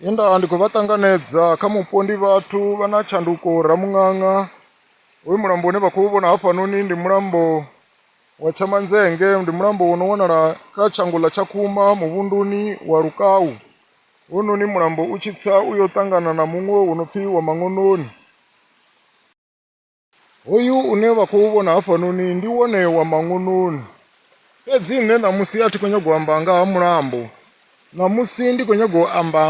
Ye nda ndi khou vha ṱanganedza kha mupo ndi vhathu vha na tshanduko Ramuṅaṅa. Hoyu mulambo une vha khou vhona hafhanoni ndi mulambo wa Tshamanzenge, ndi mulambo wo no wanala kha tshango ḽa Tshakhuma muvhunduni wa Lukau. Hounoni mulambo u tshi tsa u yo ṱangana na muṅwe wo no pfhi wa Maṅononi. Hoyu une vha khou vhona hafhanoni ndi wone wa maṅununi. Fhedzi nṋe ṋamusi a thi khou nyaga u amba nga ha mulambo. Ṋamusi ndi khou nyaga u amba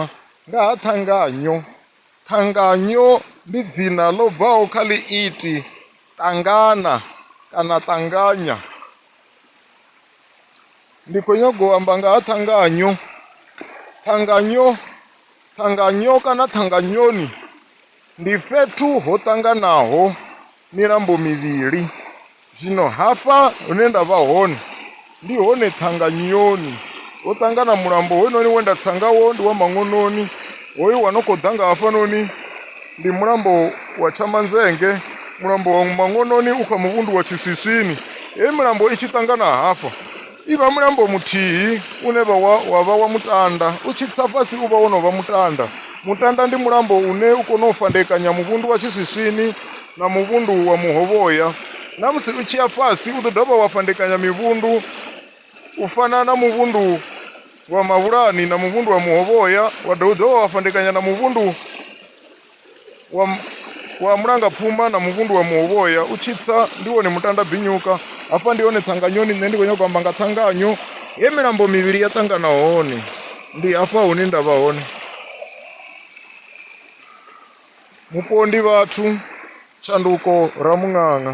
nga ha ṱhanganyo. Ṱhanganyo ndi dzina ḽo bvaho kha ḽiiti ṱangana kana ṱanganya. Ndi khou nyaga u amba nga ha ṱhanganyo. Ṱhanganyo Ṱhanganyo kana ṱhanganyoni ndi fhethu ho ṱanganaho milambo mivhili. Zwino hafha hune nda vha hone ndi hone ṱhanganyoni ho ṱangana mulambo hoyunoni we nda tsa ngawo ndi wa maṅononi hoyu wa no khou ḓa nga hafhanoni ndi mulambo wa tshamanzenge mulambo wa maṅononi u kha muvhundu wa tshiswiswini heyi milambo i tshi ṱangana hafha Ivha mulambo muthihi une vha wa, wa vha wa mutanda. U tshi tsa fhasi u vha wo no vha mutanda. Mutanda ndi mulambo une u kona u fhandekanya muvhundu wa tshiswiswini na muvhundu wa muhovhoya. Na musi u tshi ya fhasi u ḓo dovha wa fhandekanya mivhundu u fana na muvhundu wa mavhulani na muvhundu wa muhovhoya wa dovha u dovha wa fhandekanya na muvhundu wa, wa mulangapfuma na muvhundu wa muhovhoya u tshitsa ndi wone mutanda binyuka hafha ndi hone ṱhanganyoni nṋe ndi khou nyanga u amba nga ṱhanganyo he milambo mivhili ya ṱangana hone ndi hafha hune nda vha hone mupondi vhathu tshanduko ramuṅaṅa